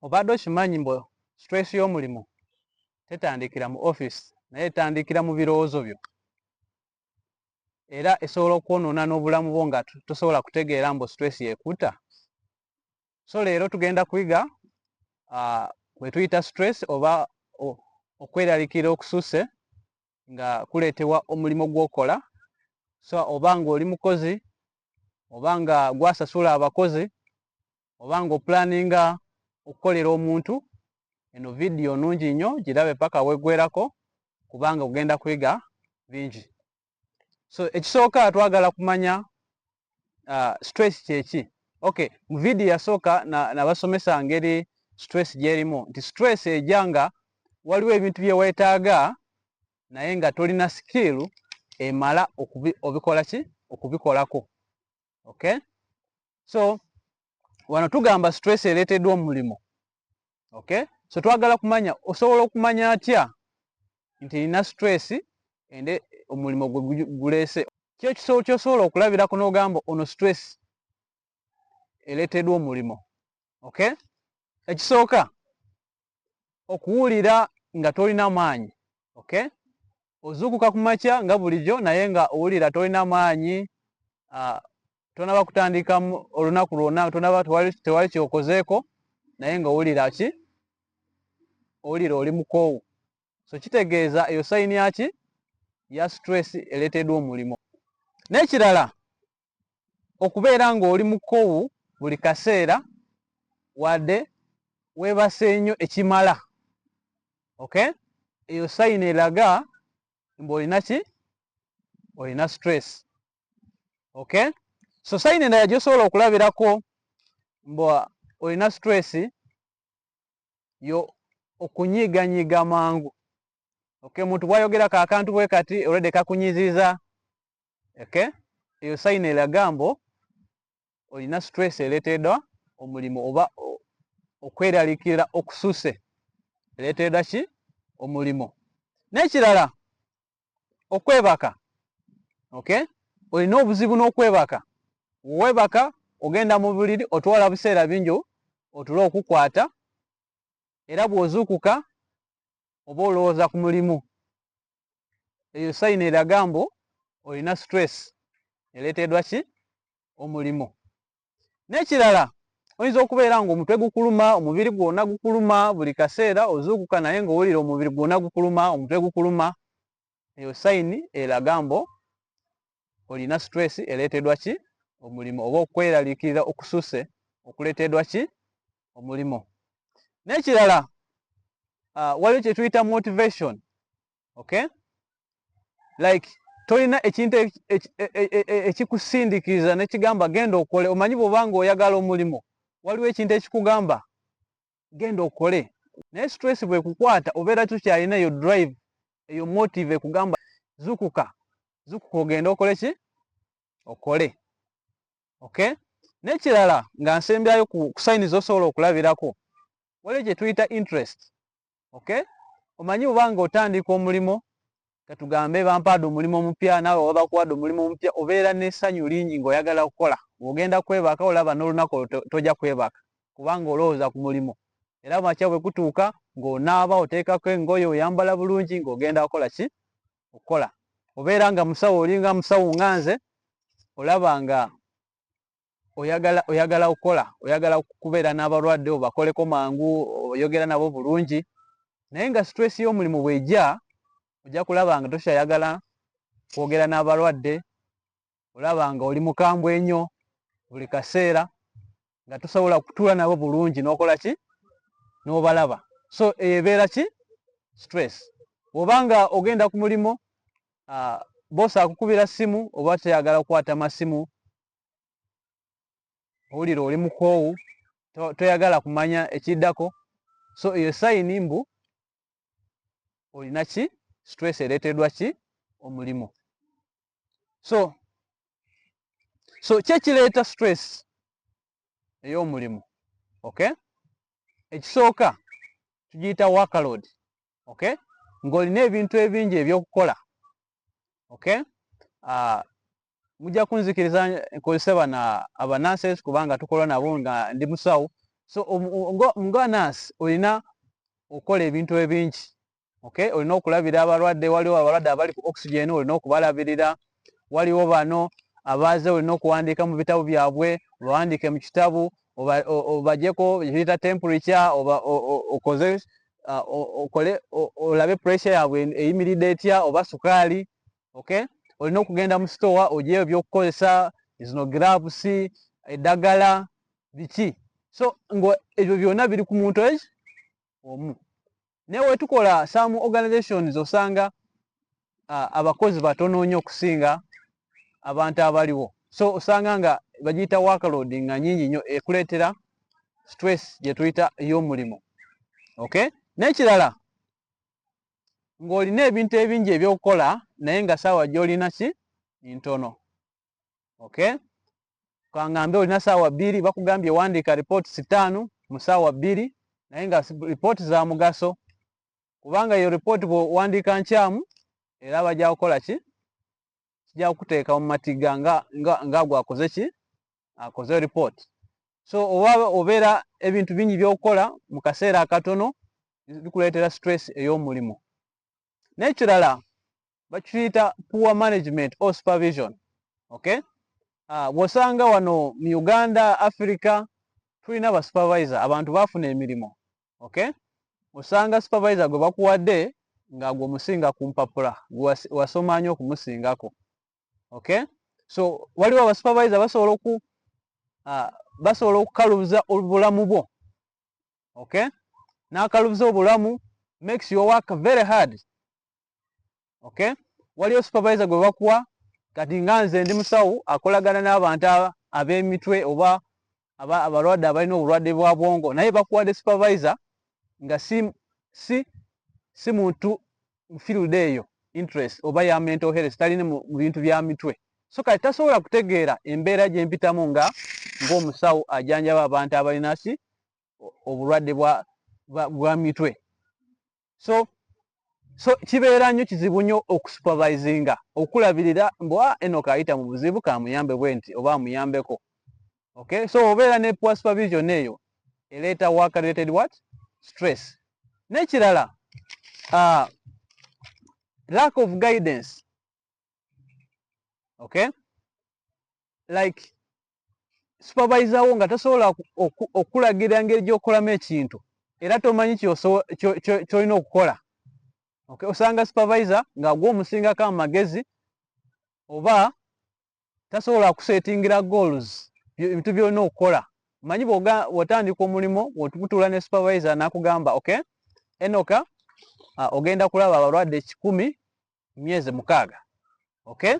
obadde okimanyi mbu stress y'omulimu tetandikira mu office naye etandikira mu birowoozo byo era esobola okwonoona n'obulamu bwo nga tosobola kutegeera mbu stress yekuta so leero tugenda kuyiga uh, wetuyita stress oba okweralikira okususe nga kuleetebwa omulimu gwokola so oba nga oli mukozi oba nga gwasasula abakozi oba nga oplaninga okukolera omuntu eno vidiyo nungi nnyo girabe paka wegwerako kubanga ogenda kwiga bingi so ekisooka twagala kumanya uh, stress kyeki ok mu vidiyo yasooka nabasomesa na ngeri stress gyerimu nti stress eja nga waliwo ebintu byewetaaga naye nga tolina skill emala obikolaki okubikolako okay so wano tugamba stress ereeteddwa omulimu okay so twagala kumanya osobola okumanya atya nti nina stress ende omulimu gwe guleese kyo kisobo kyosobola okulabirako n'ogamba ono stress ereeteddwa omulimu okay ekisooka okuwulira nga tolina maanyi okay ozuukuka ku makya nga bulijjo naye nga owulira tolina maanyi ah, tonaba kutandika olunaku lwona tonaba tewali kyokozeeko naye nga owulira ki owulira oli mukoowu so kitegeeza eyo sayini yaki ya stress eleteedwa omulimo n'ekirala okubeera ng'oli mukowu buli kaseera wadde weebase nnyo ekimala okay eyo sayini eraga mbu olina ki olina stress okay so sayini endala gyosobola okulabirako mbu olina stress yo okunyiganyiga mangu okay muntu bwayogera kakantu bwe kati olwedde kakunyiziza okay eyo sayina eraga mbu olina stress ereteedwa omulimu oba okweralikirira okususe ereteedwa ki omulimu n'ekirala okwebaka okay olina obuzibu n'okwebaka webaka ogenda mu buliri otwala buseera bingi otule okukwata era bw'ozuukuka oba olowooza ku mulimu eyo sayini eraga mbu olina stress ereteedwa ki omulimu n'ekirala oyinza okubeera nga omutwe gukuluma omubiri gwona gukuluma buli kaseera ozuukuka naye nga owulira omubiri gwona gukuluma omutwe gukuluma eyo sayini eraga mbu olina stress eleetedwa ki omulimu oba okweraliikirira okususe okuleteedwa ki omulimu n'ekirala uh, waliwo kye tuyita motivation okay like tolina ekintu e, e, e, ekikusindikiza nekigamba genda okole omanyi bwobanga oyagala omulimu waliwo ekintu ekikugamba genda okole naye stress bwekukwata obeera tukyalina eyo drive eyo motive ekugamba zukuka zukuka ogende okole ki okole okay nekirala nga nsembyayo ku sayini zosobola okulabirako waliyo gyetuyita interest okay omanyi obanga otandika omulimo katugambe bampaade omulimu omupya naawe oba bakuwadde omulimu omupya obeera n'essanyu lingi ng'oyagala okukola ng'ogenda kwebaka olaba n'olunaku olwo tojja kwebaka kubanga olowooza ku mulimu era makya bwe kutuuka ng'onaaba oteekako engoye oyambala bulungi ng'ogenda kukola ki okukola obeera nga musawo olinga musawo nga nze olaba nga oyagala oyagala okukola oyagala okubeera n'abalwadde obakoleko mangu oyogera nabo bulungi naye nga stress y'omulimu bwejja ojja kulaba nga tokyayagala kwogera n'abalwadde olaba nga oli mukambwe enyo buli kaseera nga tosobola kutuula nabo bulungi n'okola ki n'obalaba so eyo ebeera ki stress oba nga ogenda ku mulimu uh, bosi akukubira simu oba teyagala kukwata masimu owulira oli mukoowu toyagala kumanya ekiddako so eyo sayini mbu olina ki stress ereeteddwa ki omulimu so so kyekireeta stress ey'omulimu okay ekisooka tugiyita workload okay ng'olina ebintu ebingi ebyokukola okay uh, mujja kunzikiriza nkozese bana abanansi kubanga tukola nabo nga ndi musawo so um, um, nga nansi olina okukola ebintu ebingi okay olina okulabira abalwadde waliwo abalwadde abali ku oxygen olina okubalabirira waliwo bano abaaze olina okuwandiika mu bitabo byabwe obawandiike mu kitabu obajeko kiyita temperature okoze uh, okole olabe pressure yabwe eyimiridde etya oba sukaali okay olina okugenda mu store ojeyo ebyokukozesa ezino gloves eddagala biki so ngo ebyo byona biri ku muntu eki omu naye wetukola some organizations osanga uh, abakozi batono nnyo okusinga abantu abaliwo so osanga nga bagiyita workload nga nyingi nnyo ekuleetera stress gyetuyita ey'omulimu okay n'ekirala ng'olina ebintu ebingi ebyokukola naye nga saawa gyolina ki ntono okay kangambe olina saawa bbiri bakugambye wandiika ripooti sitaanu mu saawa bbiri naye nga ripooti za mugaso kubanga eyo ripooti bwewandiika nkyamu era bajja kukola ki kijja kukuteeka mu matiga nga nga nga gwakoze ki akoze report so oba obeera ebintu bingi byokukola mu kaseera akatono bikuleetera stress ey'omulimu n'ekirala bakiyita poor management or supervision okay ah, bw'osanga wano mu uganda africa tulina ba supervisor abantu baafuna emirimu okay osanga supervisor gwe bakuwadde nga gwe omusinga ku mpapula wasoma nyo okumusingako okay so waliwo abasupervisor basobola oku uh, basobola okukalubuza obulamu bwo okay nakalubuza obulamu makes your work very hard okay waliyo supervisor gwe bakuwa kati nga nze ndi musawo akolagana n'abantu ab'emitwe oba abalwadde abalina obulwadde bwa bwongo naye bakuwadde supervisor nga si si si muntu field eyo interest oba ya mental health talina mu bintu bya mitwe so kati tasobola kutegeera embeera gye mpitamu nga ng'omusawo ajanjaba abantu abalina ki obulwadde bwa mitwe so so kibeera nnyo kizibu nnyo okusupervisinga okulabirira mbu a ah, eno kaayita mu buzibu kamuyambe bwe nti oba amuyambeko okay so obeera ne poor supervision eyo eleeta work related what stress n'ekirala uh, lack of guidance okay like supervisor wo nga tasobola okulagira ngeri gyokolamu ekintu era tomanyi kyolina okukola okay osanga supervisor nga gwo omusingako amagezi oba tasobola kusetingira goals ebintu byolina okukola manyi bwotandika omulimu otutula ne supervisor nakugamba okay enoka uh, ogenda kulaba abalwadde kikumi myezi mukaaga okay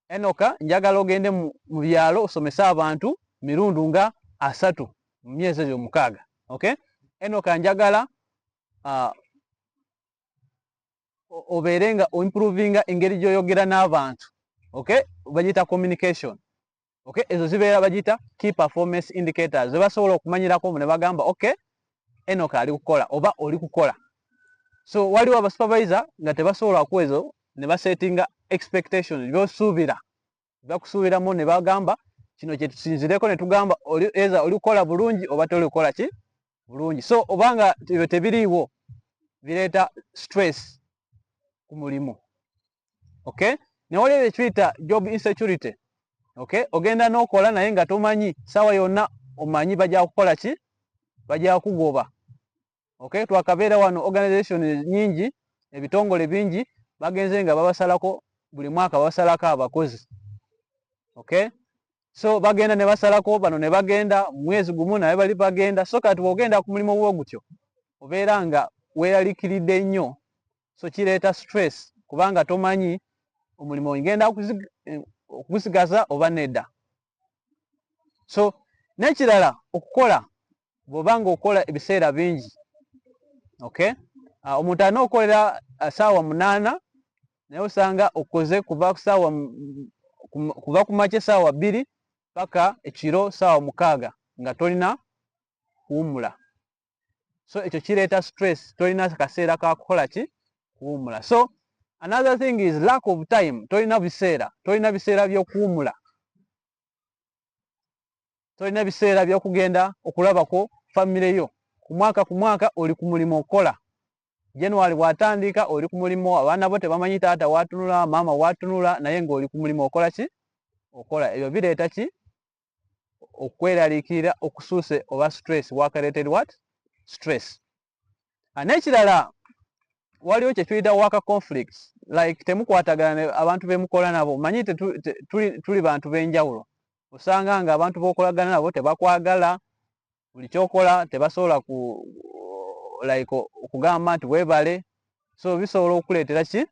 enoka njagala ogende mu byalo osomese abantu mirundu nga asatu mu myezi eyo mukaaga okay enoka njagala uh, obeere nga oimprovinga engeri gyoyogera n'abantu okay bagiyita communication okay ezo zibeera bagiyita key performance indicators ze basobola okumanyirako mu ne bagamba okay enoka ali kukola oba oli kukola so waliwo abasupervisor nga tebasobola ku ezo ne basettinga expectation byosuubira bakusuubiramu ne bagamba kino kyetusinzireko ne tugamba eza oli kukola bulungi oba toli kukola ki bulungi so obanga ebyo tebiriiwo bireeta stress ku mulimu okay newaliyo ekituyita job insecurity okay ogenda nokola naye nga tomanyi sawa yonna omanyi bajja kukola ki bajja kugoba okay twakabeera wano organization nyingi ebitongole bingi bagenze nga babasalako buli mwaka babasalako abakozi okay so bagenda ne basalako bano ne bagenda mwezi gumu naye bali bagenda so kati bwogenda ku mulimu gwo gutyo obeera nga weeralikiridde nnyo so kireeta stress kubanga tomanyi omulimu ngenda okugusigaza oba nedda so nekirala okukola bwoba nga okukola ebiseera bingi okay ah, omuntu alina okukolera ah, saawa munaana naye osanga okoze kuva kusaawa kuva kumakya esaawa bbiri paka ekiro saawa mukaaga nga tolina kuwumula so ekyo kireeta stress tolina kaseera kakukola ki kuwumula so another thing is lack of time tolina biseera tolina biseera byokuwumula tolina biseera byokugenda okulabako famire yo ku mwaka ku mwaka oli ku mulimu okukola january bwatandika oli ku mulimu abaana bo tebamanyi taata watunula maama watunula naye ngaoli ku mulimu okola ki okola ebyo bireeta ki okweraliikirira okusuuse oba stress work-related what stress ah, n'ekirala waliwo kyetuyita worker conflicts like temukwatagana abantu bemukola nabo manyi tuli bantu benjawulo osanga nga abantu bokolagana nabo tebakwagala buli kyokola tebasobola ku like okugamba nti webale so bisobola okuleetera ki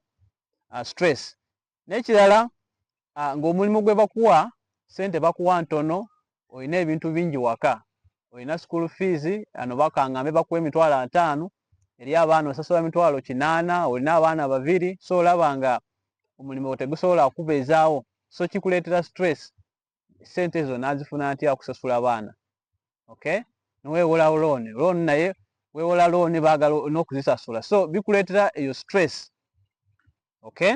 ah, stress nekirala ah, ngaomulimu gwe bakuwa sente bakuwa ntono olina ebintu bingi waka olina school fees ano bakangambe bakuwa emitwalo ataano eri abaana osasula mitwalo kinaana olina abaana babiri so olaba nga omulimu tegusobola kubeezaawo so kikuleetera stress sente ezo nazifuna ntya okusasula abaana okay nowewola loan loan naye wewola loan bagala nokuzisasula so bikuletera eyo stress okay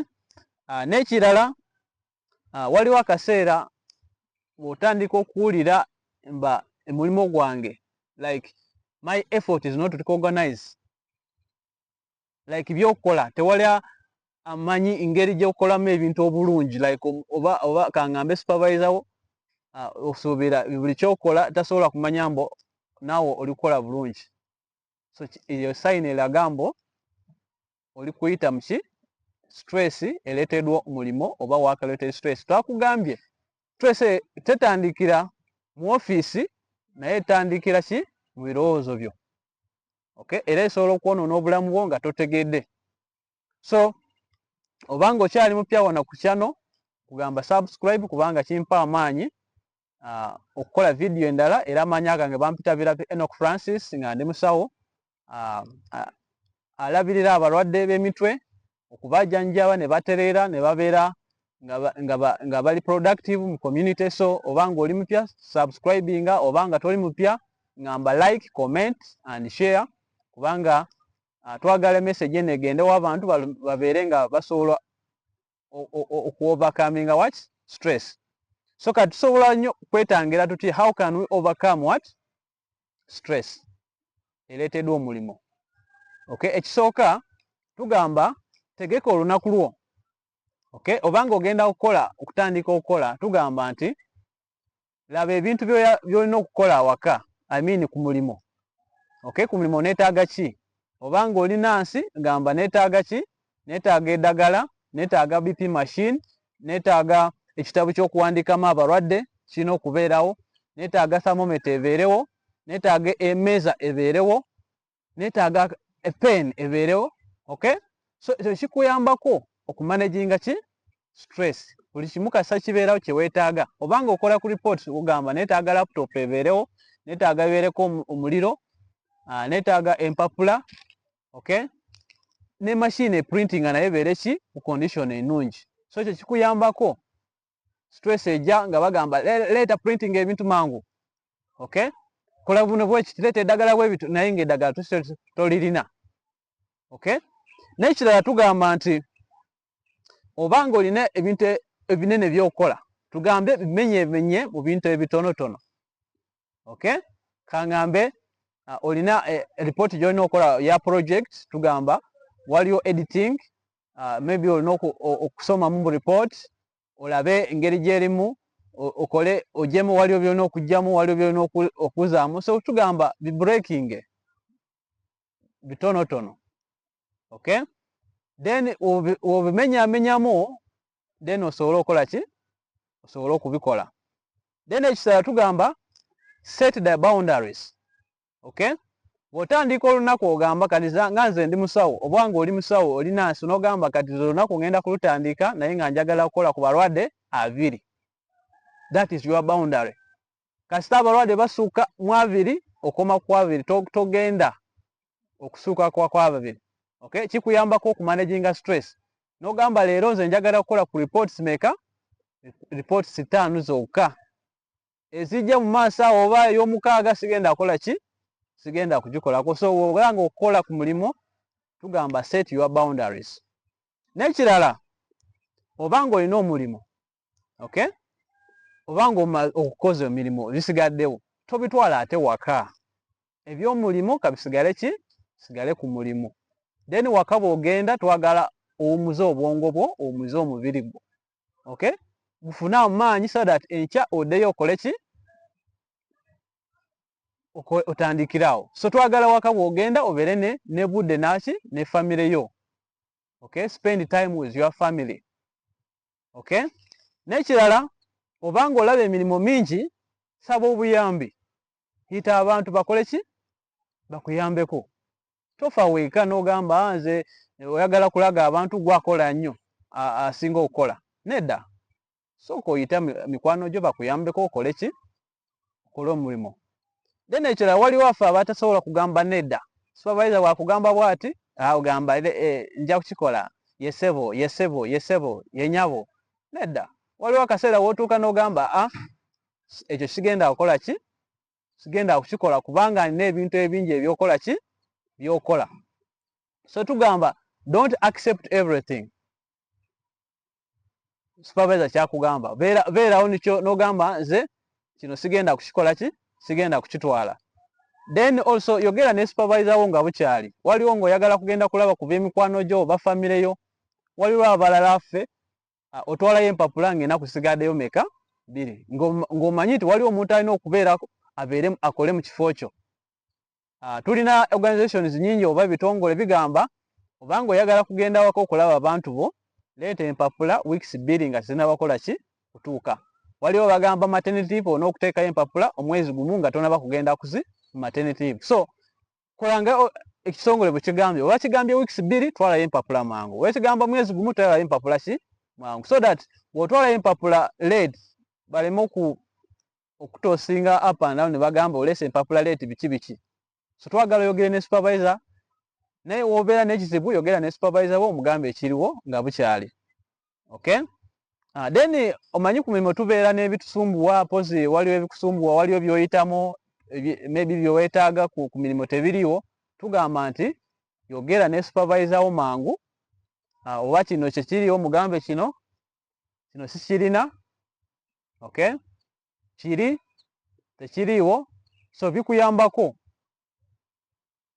uh, nekirala uh, waliwo akaseera bwotandika okuwulira mba omulimu gwange like my effort is not recognize like byokukola tewali amanyi ngeri gyokolamu ebintu obulungi like oba oba kangambe supervisor wo uh, osuubira buli kyokola tasobola kumanya mbo naawe oli kukola bulungi so eyo sayini eraga mbo oli kuyita muki stress eleteedwa omulimu oba wakaleeta stress twakugambye stress tetandikira mu ofiisi naye etandikira ki mu birowoozo byo okay era esobola okwonoona obulamu bwo nga totegedde so obanga okyali mupya wano ku kyano kugamba subscribe kubanga kimpa amaanyi uh, okukola vidiyo endala era amaanyi agange bampita biratu enok francis nga ndi musawo uh, uh, alabirira abalwadde b'emitwe okubajanjaba ne batereera ne babeera nga bali productive mu community so oba nga oli mupya subscribinga oba nga toli mupya ngamba like comment and share kubanga uh, twagala message eno egendewo abantu babeere nga basobola okuovercominga what stress so kati tusobola nnyo kwetangira tuti how can we overcome what stress ereeteddwa omulimu okay ekisooka tugamba tegeka olunaku lwo okay obanga ogenda kukola okutandika okukola tugamba nti laba ebintu byolina okukola awaka i mean ku mulimu okay ku mulimu neetaaga ki obanga olina nsi gamba neetaaga ki netaaga edagala netaaga bp machine netaaga ekitabo kyokuwandikamu abalwadde kirina okubeerawo netaaga thamometa ebeerewo netaaga emeeza ebeerewo netaaga pen ebeerewo ok so ekyo kikuyambako okumanaginga ki stress buli kimu kasa kibeerawo kyewetaaga obanga okola ku report ogamba netaaga laptop ebeerewo netaaga ebeereko omuliro ah, netaaga empapula okay ne machine e printing naye beere ki ku condition enungi so ekyo kikuyambako stress eja nga bagamba leeta printing ebintu mangu okay kola buno bwekiti leeta eddagala bwebitu naye nga eddagala tolirina okay nekirala tugamba nti obanga olina ebintu ebinene byokukola tugambe bimenye emenye mu bintu ebitonotono okay kangambe uh, olina eh, report gyolina okola ya project tugamba waliwo editing uh, maybe olina okusoma mu report olabe engeri gyerimu okole ojemu waliwo byolina okujjamu waliwo byolina okuzaamu so tugamba bi breaking bitonotono okay then wobimenyamenyamu then osobole okola ki osobole okubikola then ekisala tugamba set the boundaries okay bwotandika olunaku ogamba kati nga nze ndi musawo oba nga oli musawo oli nansi nogamba kati ze olunaku ngenda kulutandika naye nga njagala kukola ku balwadde abiri that is your boundary kasita abalwadde basuuka mu abiri okoma ku abiri togenda okusuuka ku ababiri okay kikuyambako okumanaginga stress nogamba leero nze njagala kukola ku reports meka reports ttaano zokka ezijja mu maaso awo oba ey'omukaaga sigenda akola ki sigenda kugikolako so woganga okukola ku mulimu tugamba set your boundaries n'ekirala oba nga olina omulimu okay oba ng'omaze okukoza emirimu ebisigaddewo tobitwala ate waka ebyomulimu kabisigale ki sigale ku mulimu then waka bwogenda twagala owumuze obwongo bwo owumuze omubiri gwo ok gufune amaanyi so that enkya odeyo okole ki otandikirawo so twagala waka bwogenda obeere ne ne budde naki ne famire yo ok spend time with your family okay nekirala obanga olaba emirimu mingi saba obuyambi yita abantu bakole ki bakuyambeko tofa weeka n'ogamba ah, nze eh, oyagala kulaga abantu gwakola nnyo asinga okukola nedda sooka oyita mikwano gyo bakuyambeko okole ki okole omulimu then ekirala waliwo affe abatasobola kugamba nedda supervisor wakugamba bwati agamba ah, eh, nja kukikola yesebo yesebo yesebo yenyabo nedda waliwo akaseera wotuuka nogamba a ah, ekyo kigenda kukola ki sigenda kukikola kubanga nina ebintu ebingi ebyokola ki byokola so tugamba don't accept everything supervisor kyakugamba beerawo nikyo nogamba nze kino sigenda kukikola ki sigenda kukitwala then also yogera ne supervisor wo nga bukyali waliwo ngaoyagala kugenda kulaba ku bemikwano gyo oba famire yo waliwo abalala ffe ah, otwalayo empapula ngaenaku sigadeyo meka biri ng'omanyi nti waliwo omuntu alina okubeerako abeere akole mu kifo kyo Uh, tulina organizations nyingi oba bitongole bigamba obanga oyagala kugenda wako okulaba abantu bo leeta empapula weeks bbiri nga tezinabakola ki kutuuka waliwo bagamba maternity ona okuteekayo empapula omwezi gumu nga tonaba kugenda kuzi maternity so kolanga ekitongole bwekigambye oba kigambye weeks bbiri twalayo empapula mangu wekigamba mwezi gumu twalayo empapula ki mangu so that wotwalayo empapula led baleme oku okutosinga up and down nebagamba olese empapula leti biki biki so twagala oyogere ne supervisor naye wobeera nekizibu yogera ne supervisor wo omugamba ekiriwo nga bukyali okay uh, then omanyi ku mirimu tubeera nebitusumbuwa pozi waliwo ebikusumbuwa waliwo byoyitamu maybe byewetaaga ku, ku mirimu tebiriwo tugamba nti yogera ne supervisor wo mangu uh, oba kino kyekiriwo mugambe kino kino sikirina okay kiri tekiriiwo so bikuyambako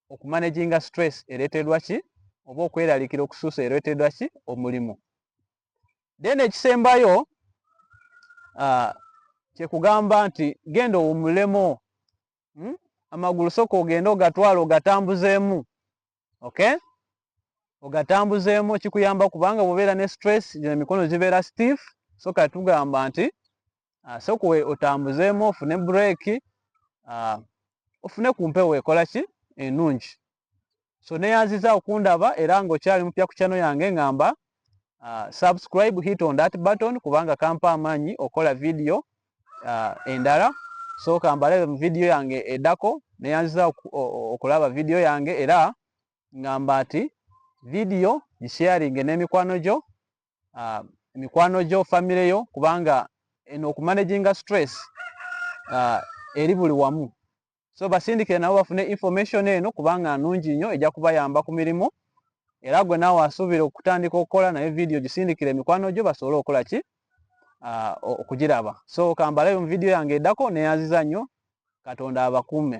okumanaginga stress ereteddwa ki oba okweralikira okusuusa ereteddwa ki omulimu then ekisembayo uh, kyekugamba nti genda owumulemu hmm? amagulu soka ogende ogatwala ogatambuzeemu okay ogatambuzeemu kikuyamba kubanga bwobeera ne stress gino emikono gibeera stiff so kati tugamba nti ah, sokuwe otambuzeemu ofune break ah, ofune ku mpewo ekola ki enungi so neyanziza okundaba era nga okyali mupya ku kyano yange ngamba uh, subscribe hit on that button kubanga kampa amaanyi okola video uh, endala so kambalabe mu video yange edako neyanziza okulaba video yange era ngamba ati video gisharinge n'emikwano gyo uh, emikwano gyo famire yo kubanga eno okumanaginga stress uh, eri buli wamu so basindikire nabo bafune information eno kubanga nungi nnyo ejja kubayamba ku mirimu era gwe naawe asuubira okutandika okukola naye vidiyo gisindikire emikwano gyo basobole okukola ki ah, okugiraba so kambalayo mu vidiyo yange eddako neyaziza nnyo katonda abakuume